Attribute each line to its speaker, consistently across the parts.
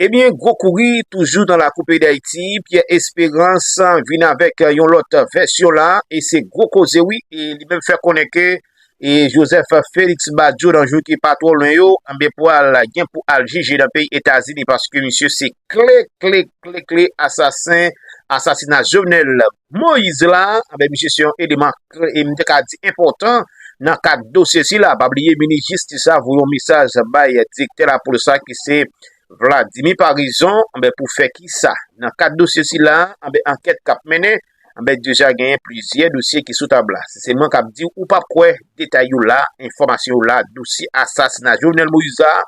Speaker 1: Ebyen gwo kouri toujou nan lakou peyi dayiti, Pierre Esperance vin avèk yon lòt vèsyon la e se gwo koze wi e li menm fè konnen ke e Joseph Felix Badio nan jou ki pa twò lwen yo anben pwal gen pou al jije nan peyi Etazini paske misye se kle kle kle kle asasen asasina Jovenel Moise la anben misye se yon eleman kle e m te ka di enpòtan nan kad dosye sila pa bliye minis jistis la voye yon mesaj bay direktè lapolis la ki se Vladimir Paraison anben pou fè kisa nan kad dosye sila anben ankèt k ap mennen Anbèt deja genyen plizyè dosye ki sou tab la. Si se mwen k ap di w, ou p ap kwè, detay yo la, enfòmasyon yo la, dosye asasina Jovenel Moïse la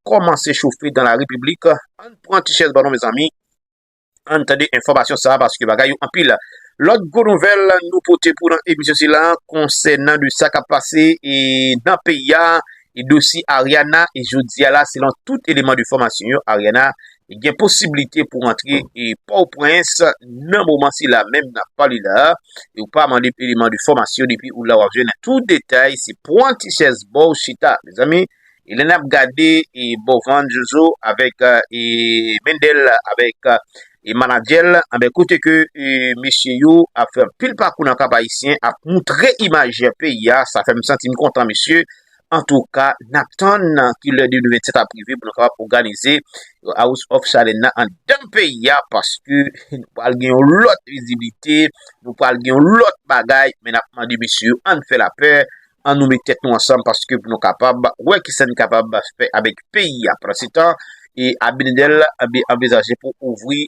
Speaker 1: kòmanse chofe dan la repiblik. Ann pran ti chèz ba nou mezanmi, ann tande enfòmasyon sa a paske bagay yo anpil. Lòt gwo nouvèl nou pote pou w nan emisyon sila konsènan de sa k ap pase nan peyi a, dosye Ariana, jodi a la selon tout eleman de fòmasyon yo Ariana gen posiblite pou antre Pòtoprens nan moman sila menm n ap pale la a, e ou pa mande eleman de fòmasyon depi ou la w ap jwenn tout detay, se pran ti chèz ba w chita mezanmi, e lè n ap gade Bovand, Jojo avèk Mendel avèk manadjè l anben kote ke mesye yo ap fè anpil pakou nan Kap Ayisyen ap moutre imaj peyi a sa fè m santi m kontan mesye Antouka, n ap tann ki lè 2027 ap rive pou nou kapab òganize House of Challenge nan anndan peyi a paske nou pral gen yon lòt viziblite, nou pral gen yon lòt bagay. Men n ap mande mesye yo ann fè lapè, an nou met tèt nou ansanm paske pou nou kapab wè kisa n kapab fè avèk peyi a. Pandansetan, Abinadèl anvizaje pou ouvri.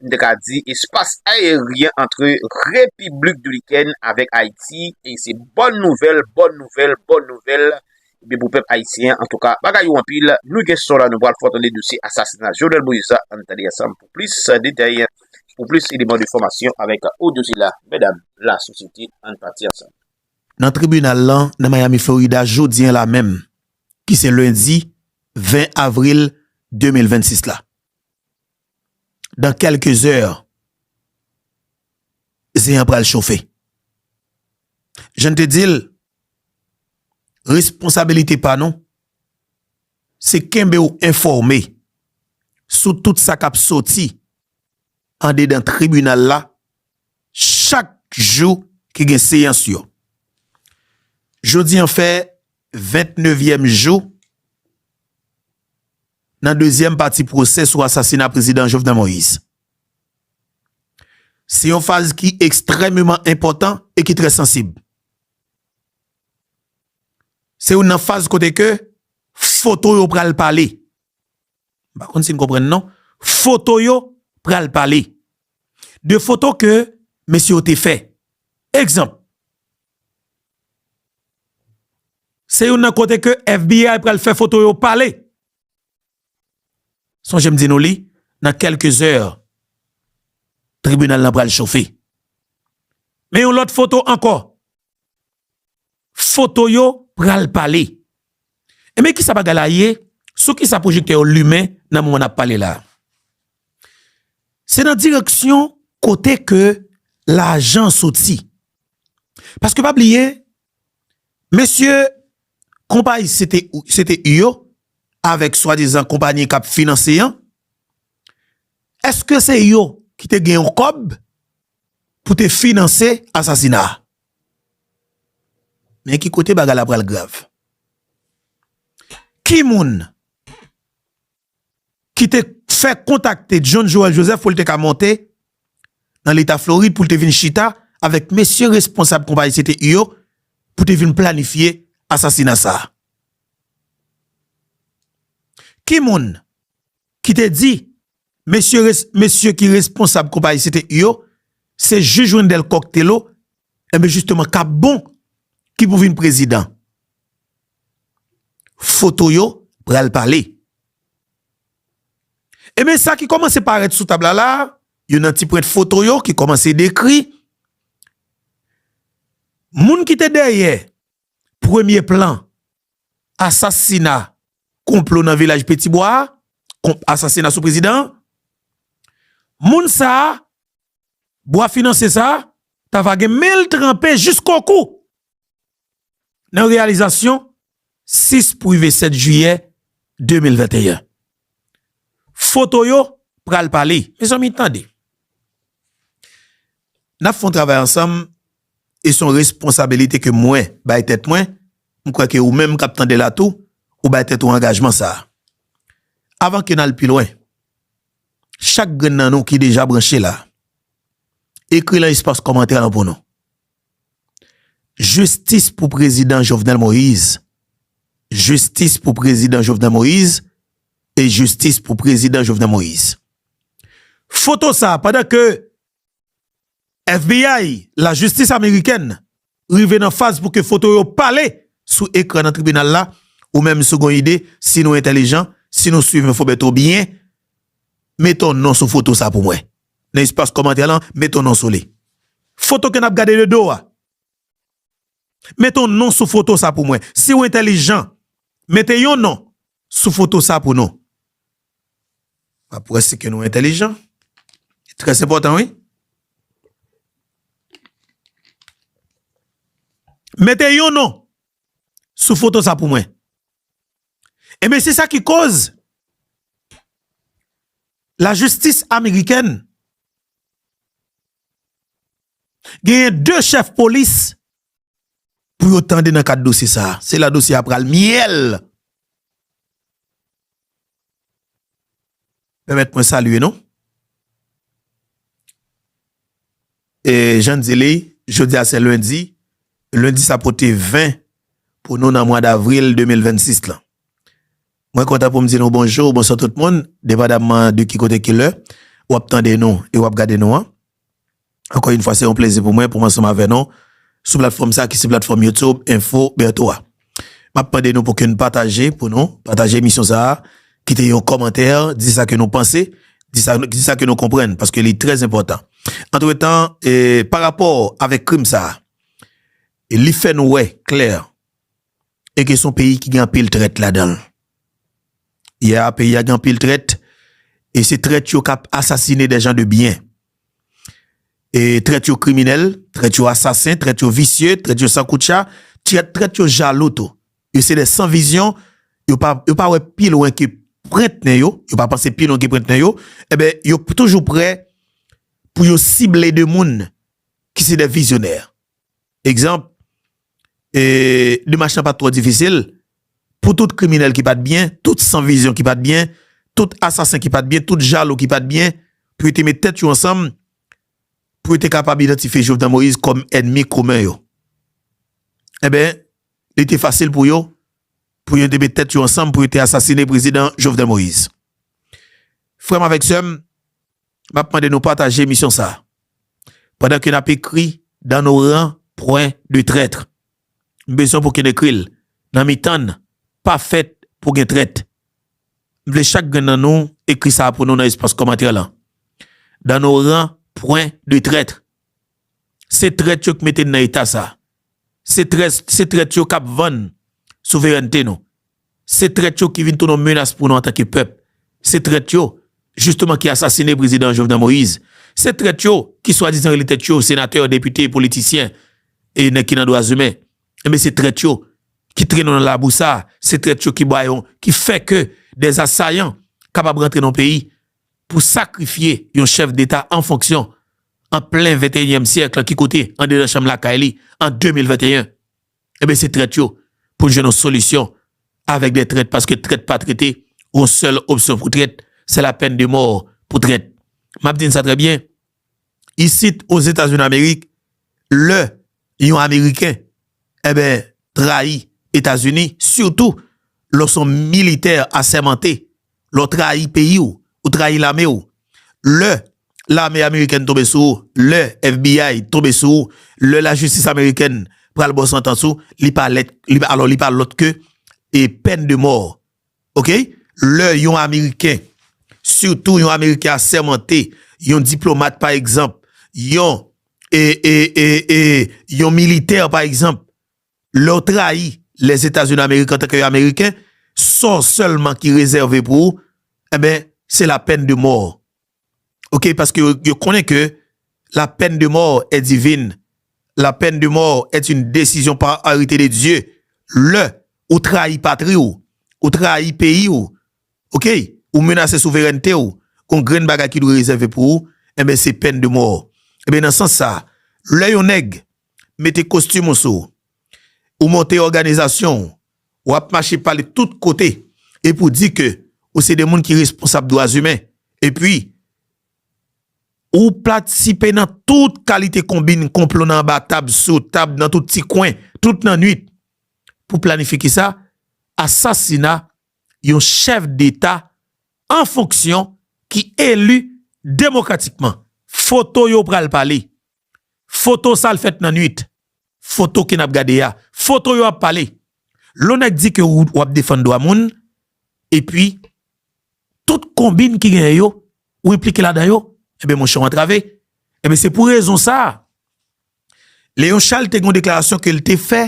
Speaker 1: m te ka di espas aeryen antre Repiblik Dominikèn avèk Ayiti e se bòn nouvèl, bòn nouvèl, bòn nouvèl ebyen pou pèp ayisyen an. Antouka bagay yo anpil, nou gen son la nou pral fè w tande dosye asasina Jovenel Moïse la ann tande ansanm pou plis detay, pou plis eleman de fòmasyon avèk odyo sila, medam, la sosyete ann pati ansanm. Nan tribinal
Speaker 2: lan nan Miami Florida jodi an la menm ki se lendi 20 avril 2026 la. dan kelke zè zen an pral chofe. Jann te dil responsabilite pa nou se kenbew enfòme sou tout sa kap soti andedan tribinal la chak jou ki gen seyans yo. Jodi an fè 29 yèm jou. Nan dezyèm pati pwosè sou asasina Prezidan Jovenel Moïse. Se yon faz ki ekstrèmeman enpòtan e ki trè sansib. Se youn nan faz kote ke foto yo pral pale. M pa konn si n konprann non. Foto yo pral pale. De foto ke mesye yo te fè. Egzanp. Se youn nan kote ke FBI pral fè foto yo pale. Sonje m di nou li, nan kelke zè, tribinal la pral chofe. Men yon lot foto anko, foto yo pral pale. Enben kisa bagay la ye, sou kisa pwojektè yo limen nan moman nap pale la? Se nan direksyon kote ke lajan soti. Paske pa bliye, mesye konpayi CTI yo, avèk swadizan konpanyi kap finanse an, eske se yo ki te gen yon kòb pou te finanse asasina a? Men ki kote bagay la pral grav. Ki moun ki te fè kontakte John Joel Joseph pou l te ka monte nan leta Florid pou l te vin chita avèk mesye responsab konpayi CTI yo pou te vin planifye asasina sa a? Ki moun ki te di Mesye res mesye ki responsab konpayi CTI yo se jij Wendel Coq Thelo enben jisteman Capbon ki pou vin prezidan. Foto yo pral pale. Enben sa ki kòmanse parèt sou tab la la a, yo nan ti prent foto yo ki kòmanse dekri moun ki te dèyè. premye plan asasina konplo nan vilaj Petibwa a, konp asasina sou prezidan an, moun sa a, bwa finansye sa a, ta va gen men l tranpe jisko kou nan reyalizasyon 6 pou rive 7 jiyè 2021. Foto yo pral pale. Mezanmi tande. N ap fè yon travay ansanm e son responsabilite ke mwen bay tèt mwen, m kwè ke ou menm kap tande la tou, ou bay tèt ou angajman sa. Avan ke nal pi lwen, chak grenn nan nou ki deja branche la, ekri lan espas kòmantè lan pou nou, Jistis pou Prezidan Jovenel Moïse, Jistis pou Prezidan Jovenel Moïse, e Jistis pou Prezidan Jovenel Moïse. Foto sa, pandan ke FBI, lajistis amerikèn, rive nan faz pou ke foto yo pale sou ekran nan tribinal la, ou menm si w gon ide, si nou entèlijan, si nou swiv enfo Bertho byen, mete yon non sou foto sa pou mwen. Nan espas kòmantè lan, mete yon non sou li. Foto ke n ap gade de do a. Mete yon non sou foto sa pou mwen. Si w entèlijan, mete yon non Sou foto sa pou nou. Map wè si ke nou entelijan. Trè enpòtan wi. Mete yon non sou foto sa pou mwen. Enben se sa ki koz la jistis amerikèn genyen 2 chèf polis pou yo tande nan kad dosye sa a. Se la dosye a pral myèl! Pèmèt mwen salye nou. E jan n di li, jodi a se lendi, lendi sa pote 20 pou nou nan mwa davril 2026 lan. Mwen kontan pou m di nou bonjou, bonswa tout moun, depadamman de ki kote ki lè w ap tande nou e w ap gade nou an. Ankò yn fwa se yon plezi pou mwen pou m ansanm avè nou sou platfòm sa ki se platfòm YouTube Info Bertho a. Map mande nou pou ke n pataje pou nou pataje emisyon sa a, kite yon kòmantè, di sa ke nou panse, di sa di sa ke nou konprann paske li trè enpòtan. Antretan e pa rapò avèk krim sa a, li fè nou wè klè e ke son peyi ki gen anpil trèt ladanl. Ya peyi a gen anpil trèt e se trèt yo kap asasine dè jan de byen. E trèt yo kriminèl, trèt yo asasen, trèt yo visye, trèt yo san koutcha, trèt yo jalou tou. Yo se dè san vizyon, yo pa wè pi lwen ke prent nen yo, yo pa panse pi lwen ke prent nen yo, e ben yo toujou prè pou yo sible de moun ki se dè vizyonè. Egzanp, e demach lan pa t twò difisil pou tout kriminèl ki pa t byen, tout san vizyon ki pa t byen, tout asasen ki pa t byen, tout jalou ki pa t byen, pou yo te met tèt yo ansanm, pou yo te kapab idantifye Jovenel Moïse kòm ènmi komen yo. Enben, li te fasil pou yo, pou yo te met tèt yo ansanm pou yo te asasine Prezidan Jovenel Moïse. Frè m avèk sè m, M ap mande nou pataje emisyon sa a pandan ke n ap ekri dans nos rangs pwen de trètre. M bezwen pou ke n ekri l nan mitan n pa fèt pou gen trèt. M vle chak grenn nan nou ekri sa a pou nou nan espas kòmantè lan dans nos rangs pwen de trètre. Se trèt yo k mete n nan eta sa. Se trèt se trèt yo kap vann souverènte nou. Se trèt yo ki vin tounen yon menas pou nou antanke pèp. Se trèt yo jisteman ki asasine prezidan Jovenel Moïse. Se trèt yo ki swadizan rele tèt yo senatè, depite, politisyen e nèg ki nan dwazimen. Enben se trèt yo ki trennen nou nan labou sa. Se trèt yo ki ba yon, ki fè ke des assaillants kapab rantre nan yon peyi pou sakrifye yon chèf deta an fonksyon an plen venteyinyèm syèk la ki kote andedan chanm lakay li an 2021 enben se trèt yo pou n jwenn yon solisyon avèk dè trèt paske trèt pa trete gon sèl opsyon pou trèt se la pèn de mò pou trèt m ap di n sa trè byen. isit o Zetazini Amerik lè yon ameriken eben trayi Etazini sitou lè w son militè asèmante lè w trayi peyi w ou trayi lame w lè lame amerikèn tonbe sou ou lè FBI tonbe sou ou lè lajistis amerikèn pral ba w santans ou li pa lèt alò li pa lòt ke e pèn de mò ok lè yon ameriken sitou yon ameriken asèmante yon diplomat pa egzanp yon ee yon militè pa egzanp lè w trayi lèzetazunidamerik antanke yon ameriken sa w sèlman ki rezève pou ou enben se lapèn de mò. ok paske yo konnen ke la pèn de mò è divin la pèn de mò è yn desizyon pa arete de Dye lè ou trayi patri w ou trayi peyi w ok ou menase souverènte w gon grenn bagay ki dwe rezève pou ou enben se pèn de mò enben nan sans sa lè yon nèg mete kostim ou sou ou monte òganizasyon w Ou ap mache pale tout kote epi ou di ke ou se de moun ki responsab dwa imen epi ou patisipe nan tout kalite konbin, konplo nan anba tab, sou tab, nan tout ti kwen, tout nan nwit pou planife ki sa? Asasina yon chèf deta an fonksyon ki eli demokratikman. Foto yo pral pale. Foto sa l fèt nan nwit. Foto ke n ap gade a. Foto yo ap pale. Lè w nèk di ke ou w ap defann dwa moun, epi tout konbinn ki genyen yo, ou enplike ladan yo, enben monchè w antrave. Enben se pou rezon sa a, Léon Charles te gen yon deklarasyon ke l te fè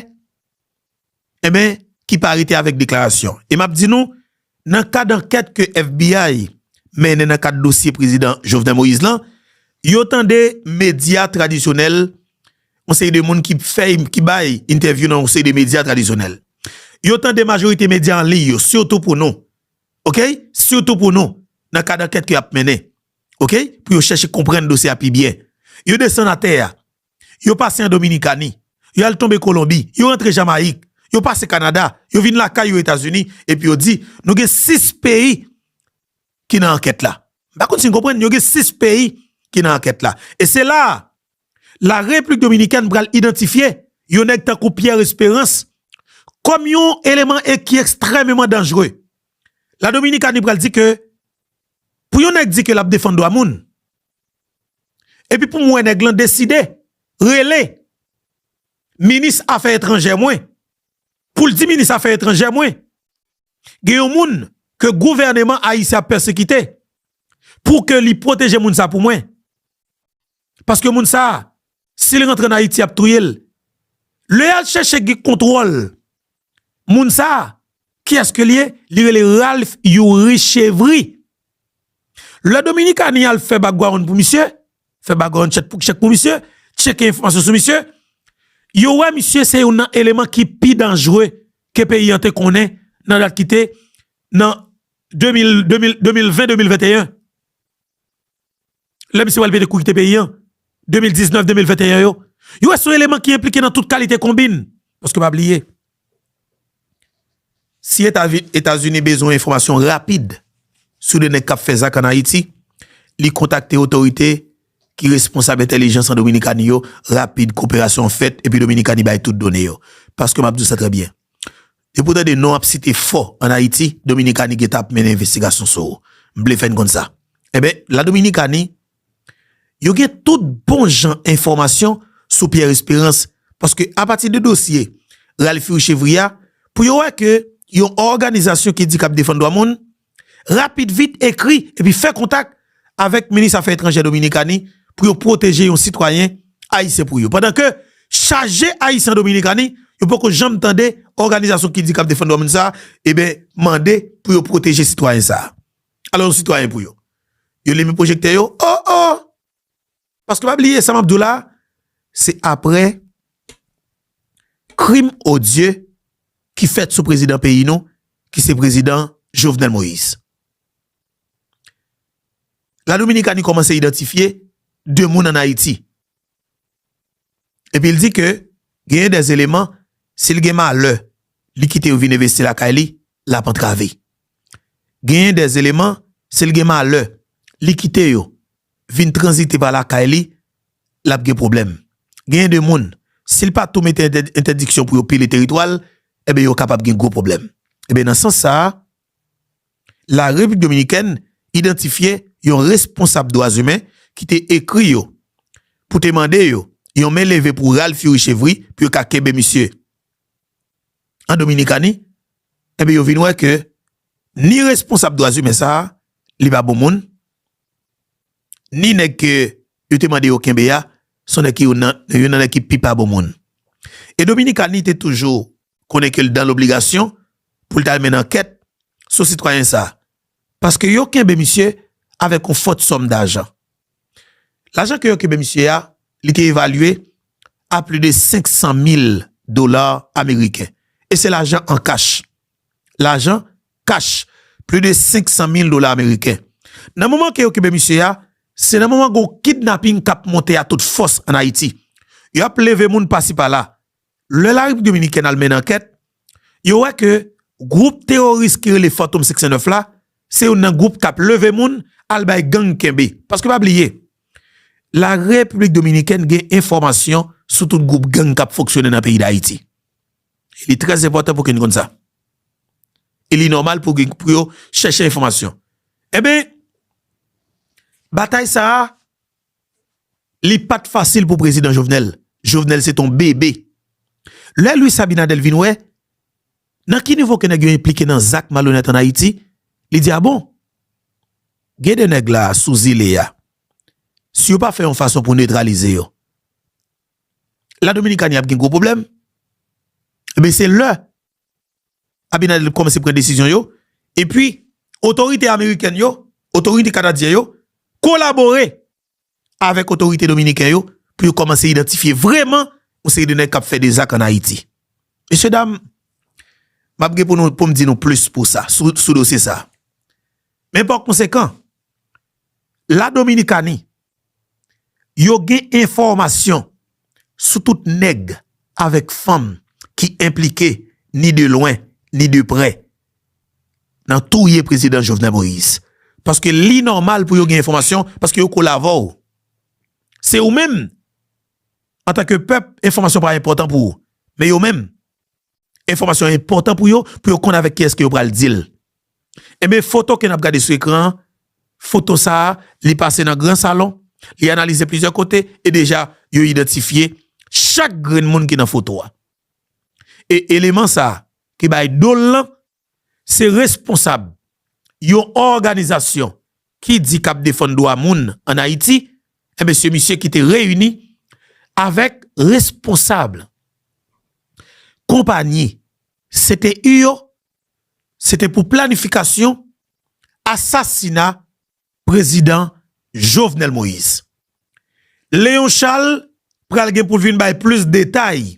Speaker 2: enben ki pa rete avèk deklarasyon. E map di nou, nan kad ankèt ke FBI mennen nan kad dosye prezidan Jovenel Moïse lan, yo tande medya tradisyonèl, yon seri de moun ki fè, ki bay entèvyou nan yon seri de medya tradisyonèl. Yo tande majorite medya an liy yo, sitou pou nou, ok, sitou pou nou, nan kad ankèt ke yap mennen, ok, pou yo chèche konprann dosye a pi byen. Yo desann atè a. Yo pase an Dominikani, yo al tonbe Kolonbi, yo rantre Jamayik, yo pase Kanada, yo vin lakay yo Etazini, epi yo di, nou gen 6 peyi ki nan ankèt la. M pa konn si n konprann, yo gen 6 peyi ki nan ankèt la. E se la a, La Repiblik Dominikèn pral idantifye yon nèg tankou Pierre Esperance kòm yon eleman ki ekstrèmeman danjre. La Dominikani pral di ke, pou yon nèg di ke l ap defann dwa moun, Epi pou m wè nèg lan deside rele minis afè etranjè mwen pou l di minis afè etranjè mwen gen yon moun ke gouvèneman ayisyen ap pèsekite pou ke li pwoteje moun sa pou mwen. Paske moun sa Sil rantre an ayiti yap touyel. Le yal cheche gen kontrol moun sa kiyes ke liye li rele Ralph youri chevry. Le dominikani al fe bagwaonn pou misye fe bagwaonn chet pou chek pou misye cheke enfomasyon sou misye yo we misye se youn nan eleman ki pi danjre ke peyi an te konnen nan dat kite nan 2020 2021. lè misye wèl pete kou kite peyi an, 2019, 2021 yo, yo wè son eleman ki enplike nan tout kalite konbinn. Paske pa bliye, si Etazini bezwen enfòmasyon rapid sou 2 nèg kap fè zak an Ayiti, li kontakte otorite ki responsab entèlijans an Dominikani yo, rapid koperasyon an fèt epi Dominikani bay tout done yo. Paske map di w sa trè byen. Depi w tande non w ap site fò an Ayiti, Dominikani gentan ap mennen envestigasyon sou ou. M vle fè n konn sa. Enben, La Dominikani, yo gen tout bon jan enfòmasyon sou Pierre Espérance paske apati de dosye Ralphy Richevry a, pou yo wè ke yon òganizasyon ki di k ap defann dwa moun, rapid vit ekri epi fè kontak avèk minis afè etranjè Dominikani pou yo pwoteje yon sitwayen ayisyen pou yo pandan ke chaje ayisyen an Dominikani yo poko janm tande òganizasyon ki di kap defann dwamoun sa eben mande pou yo pwoteje sitwayen sa alò yon sitwayen pou yo yo limen pwojektè yo oh oh. Paske pa bliye sa map diw la se aprè krim odye ki fèt sou prezidan peyi nou ki se prezidan Jovenel Moïse. La Dominikani kòmanse idantifye 2 moun an Ayiti. Epi l di ke genyen dè eleman, si l gen malè li kite yo vin envesti lakay li, l ap antrave. Genyen dè eleman, si l gen malè li kite yo vin tranzite pa lakay li, l ap gen pwoblèm. Genyen de moun, si l pa tou mete entèdiksyon pou yo pile teritwa l, enben yo kapab gen gwo pwoblèm. Enben nan sans sa a. La Repiblik Dominikèn idantifye yon responsab dwazimen ki te ekri yo pou te mande yo yon men leve pou ral furi chevri pou yo ka kenbe misye an Dominikani, enben yo vin wè ke ni responsab dwazimen sa a li pa bon moun, ni nèg ke yo te mande yo kenbe a son nèg ki youn nan nèg ki pi pa bon moun. E Dominikani te toujou. konnen ke l dan lobligasyon pou l t al mennen ankèt sou sitwayen sa a, paske yo kenbe misye avèk yon fòt sòm dajan. Lajan ke yo kenbe misye a, li te evalye a pli de 500 mil dola ameriken, e se lajan an kach. Lajan kach, pli de 500 mil dola ameriken. Nan moman ke yo kenbe misye a, se nan moman gen yon kidnaping k ap monte a tout fòs an Ayiti. Yo ap leve moun pasi pala, Lè la Repiblik Dominikèn al mennen ankèt, yo wè ke gwoup teworis ki rele Fantom 509 la, se youn nan gwoup kap leve moun al bay gang kenbe. Paske pa bliye, la Repiblik Dominikèn gen enfòmasyon sou tout gwoup gang kap fonksyone nan peyi Dayiti. Li trè enpòtan pou ke nou konn sa. E li nòmal pou yo chèche enfòmasyon. Enben, batay sa a, Li pat fasil pou prezidan Jovenel, Jovenel se ton bebe. Lè Luis Abinader vin wè nan ki nivo ke nèg yo enplike nan zak malonèt an Ayiti, li di a bon, gen de nèg la sou zile a, si yo pa fè yon fason pou netralize yo, La Dominikani ap gen gwo pwoblèm, enben se lè. Abinader li kòmanse pran desizyon yo, epi otorite amerikèn yo, otorite kanadyen yo kolabore avèk otorite dominiken yo pou yo kòmanse idantifye vreman yon seri de nèg k ap fè de zak an Ayiti. Mesye dam, m ap gen pou nou pou m di nou plis pou sa sou dosye sa a. Men pa konsekan, la Dominikani yo gen enfòmasyon sou tout nèg avèk fanm ki enplike ni de lwen ni de prè nan touye prezidan Jovenel Moïse paske li nòmal pou yo gen enfòmasyon paske yo kole avè w se ou menm antanke pèp enfòmasyon pa enpòtan pou ou men yo menm. enfòmasyon an enpòtan pou yo, pou yo konn avèk kiyès ke yo pral di l. Enben, foto ke n ap gade sou ekran an, foto sa a, li pase nan gran salon, li analize plizyè kote, e deja, yo idantifye chak grenn moun ki nan foto a. E eleman sa a, ki bay do l lan, se responsab yon òganizasyon ki di kap defann dwa moun an Ayiti, enben se misye ki te reyini avèk responsab konpayi CTU yo, se te pou planifikasyon asasina prezidan Jovenel Moïse. Léon Charles pral gen pou l vin bay plis detay